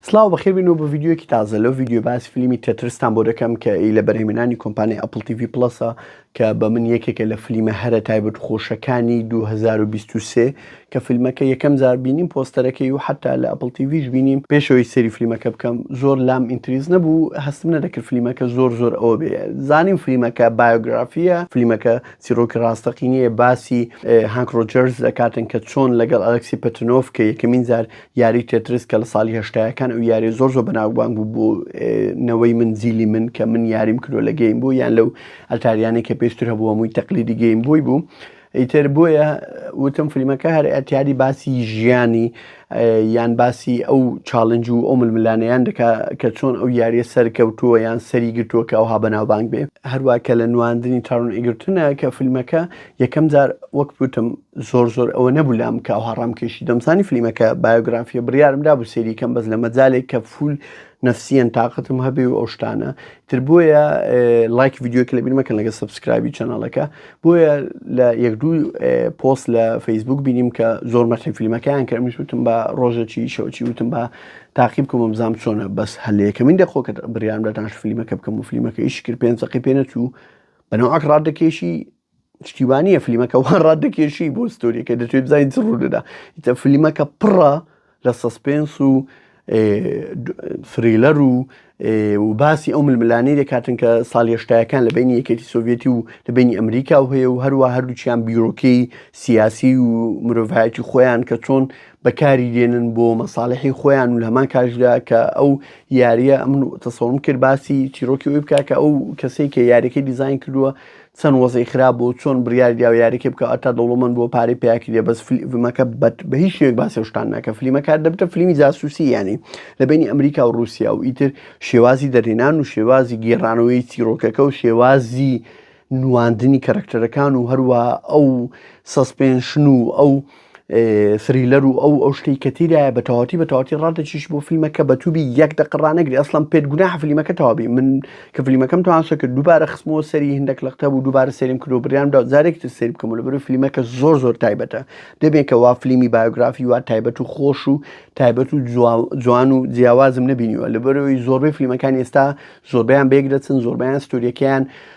سڵاو بەخێر بینەوە بە ڤیددیوکی تازە لەو ڤیددیو باس فلیمی تەترستان بۆ دەکەم کە ئی لە بەرهێمنانی کۆمپانی ئەپل تیV پلسە کە بە من یەکێکە لە فلیمە هەرە تایبەت خۆشەکانی 2023 کە فیلمەکە یەکەم جار بینیم پۆستەرەکەی و حتا لە ئەپل تیVش بینیم پێشەوەی سەری فلیمەکە بکەم زۆر لام ئینتریز نەبوو هەستم نەدەکرد فلیمەکە زۆر زۆر ئەوە بێ زانیم فلیمەکە بایۆگرافیە فلیمەکە چیرۆکی ڕاستەقینیە باسی هانکرۆجەرز دەکاتن کە چۆن لەگەڵ ئەلکسی پەتنۆف کە یەکەمین جار یاری تێترس کە لە ساڵی هەشتایەکان ئەو یاریە زۆر زۆر بەناوبانگ بوو بۆ نەوەی من زیلی من کە من یاریم کردو لە گەیم بوو یان لەو ئەتاریانی کە پێشتر هەبوو هەمووی تەقلیدی گەیم بووی بوو ئیتر بۆیە وتم فیلمەکە هەر ئەتیادی باسی ژیانی یان باسی ئەو چاالنج و ئەو ململانەیان دەکا کە چۆن ئەو یاریە سەرکەوتووە یان سەری گرتووە کە ئەوها بەناوبانگ بێ هەروە کە لە نواندنی تاڕون ئیگرتنە کە فیلمەکە یەکەم جار وەک بوتم زۆر زۆر ئەوە نەبوو لام کە ئەوها ڕام کێشی دەمزانی فلیمەکە بایۆگرافیە بڕیارم دا بوو سێری کەم بەس لە مەجالێک کە فول نفسیەن تااقتم هەبێ و ئەو شتانە تر بۆیە لایک یددیوکە لە بیرمەکەن لەگە سبسکرایبی چەنەڵەکە بۆیە لە یەک دوو پۆست لە فەیسبوک بینیم کە زۆر مەسی فیلمەکەیان کە منش وتم بە ڕۆژەکی شەوچی وتم بە تاقیب کوم بزانام چۆنە بەس هەلەیەکە من دەخۆکە بریان دەتانش فیلمەکە بکەم و فیلمەکە ئیشکرد پێنج سەقی پێنەچوو بەنەوەک ڕادەکێشی شتی وانیە فلیمەکە وان ڕات دەکێشی بۆ ستۆریەکە دەتوێت بزانین چ ڕوودەدا ئیتە فلیمەکە پڕە لە سەسپێنس و سریلەر و و باسی ئەو ململانەی دەکاتن کە ساڵ هێشتایەکان لە بینی یەکێتی سۆڤێتی و لە بینی ئەمریکا و هەیە و هەروە هەردووچیان بیرۆکەی سیاسی و مرۆڤایەتی خۆیان کە چۆن بەکاری دێنن بۆ مەساالحی خۆیان و لەمان کاشدا کە ئەو یاریە ئەمن تەسەڵم کرد باسی چیرۆکی ئەوی بکە کە ئەو کەسێک کە یاریەکەی دیزین کردووە چەن وەزعی خراپ بوو چۆن بریاری داو یاریکە بکە ئەتا دەوڵەمەند بووە پارەی پیا کردیە بەس فلیمەکە بەت بە هیچ شێوەیەک باسی شتان ناکە فلیمەکە دەبتە فلیمی جاسوسی یانی لە بینی ئەمریکا و روسیا و ئیتر شێوازی دەرهێنان و شێوازی گێڕانەوەی چیرۆکەکە و شێوازی نواندنی کەرەکتەرەکان و هەروە ئەو سەسپێنشن و ئەو سریلەر و ئەو ئەو شتەی کە تیرایە بە تەواتی بە تەواتی ڕادەچیش بۆ فیلمەکە بە توبی یەک دەق ڕانەگری ئەسلم پێت گوناح فلیمەکە تەواوی من کە فلیمەکەم توانسە کرد دووبارە خستمەوە سەری هندێک لەقتە بوو دووبارە سریم کرد و بریاندا جارێک تر سری بکەم لە بەرو فلیمەکە زۆر زۆر تایبەتە دەبێت کە وا فلیمی بایۆگرافی وا تایبەت و خۆش و تایبەت و جوان و جیاوازم نبینیوە لە بەرەوەی زۆربەی فلیمەکان ئێستا زۆربیان بێک دەچن زۆربیان ستوریەکەیان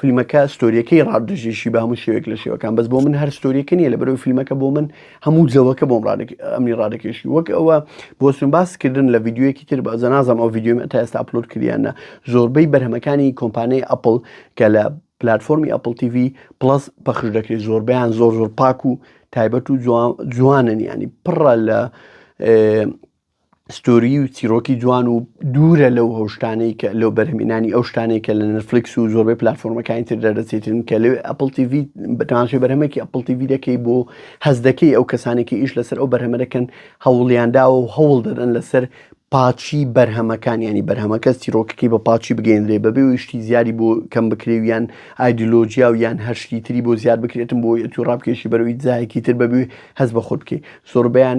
فلمەکە ستۆریەکەی ڕاپ دەژێشی بە هەموو شێوێک لە شێوەکان بەس بۆ من هەر ستۆریەکە نیە لە بەرەو فیلمەکە بۆ من هەموو جەوەکە بۆم ئەمنی ڕادەکێشی وەک ئەوە بۆسم باسکردن لە یددیوەکی تر بە زەنازم ئەو یددیومە تا ئێستا پلوت کریانە زۆربەی بەرهەمەکانی کۆمپانیای ئەپل کە لە پلتفۆمی ئەپل TV پلس پەخش دەکرێت زۆربیان زۆر زۆر پاک و تایبەت و جوانن ینی پڕە لە ستۆریی و چیرۆکی جوان و دوورە لەو ئەو شتانەی کە لەو بەرهەمهێنانی ئەو شتانەی کە لە نێتفلیکس و زۆربەی پلاتفۆرمەکانی تر دەردەچێتن کە لەوێ ئەپڵ تی ڤی بە تەماشای بەرهەمێکی ئەپڵ تی ڤی دەکەی بۆ هەز دەکەی ئەو کەسانی کە ئیش لەسەر ئەو بەرهەمە دەکەن هەوڵیان داوە و هەوڵ دەدەن لەسەر پاچی بەرهەمەکان ینی بەرهەمەکە چیرۆکەکەی بە پاچی بگەێنرێ بەبێ و شتی زیادی بۆ کەم بکرێ و یان ئایدلۆجیا و یان هەر شتی تری بۆ زیاد بکرێتم بۆ یەتی ڕابکێشی بەرەوەی جایەکی تر بەبێ هەز بە خۆت بکەیت زۆربیان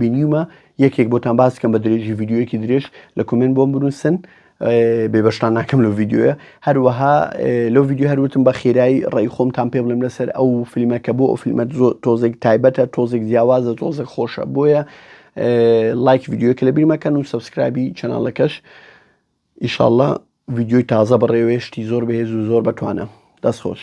بینیومە یەکێک بۆتان باس بکەم بە درێژی ڤیددیوەکی درێژ لە کومنت بۆم بنووسن بێبشتان ناکەم لە ڤیددیوە هەروەها لەو ڤیددیو هەروتم بە خێرای ڕێی خۆمتان پێ بڵێم لەسەر ئەو فیلمە کە بۆ ئەو فیلمە تۆزێک تایبەتە تۆزێک جیاوازە تۆزێک خۆشە بۆیە لایک ڤیددیوە کە لە بیرمەکەن و سبسکرابی چەناڵەکەش ئیشاءله ڤیددیوی تازە بەڕێوێشتی زۆر بەهێز و زۆر بەتوانە دەست خۆش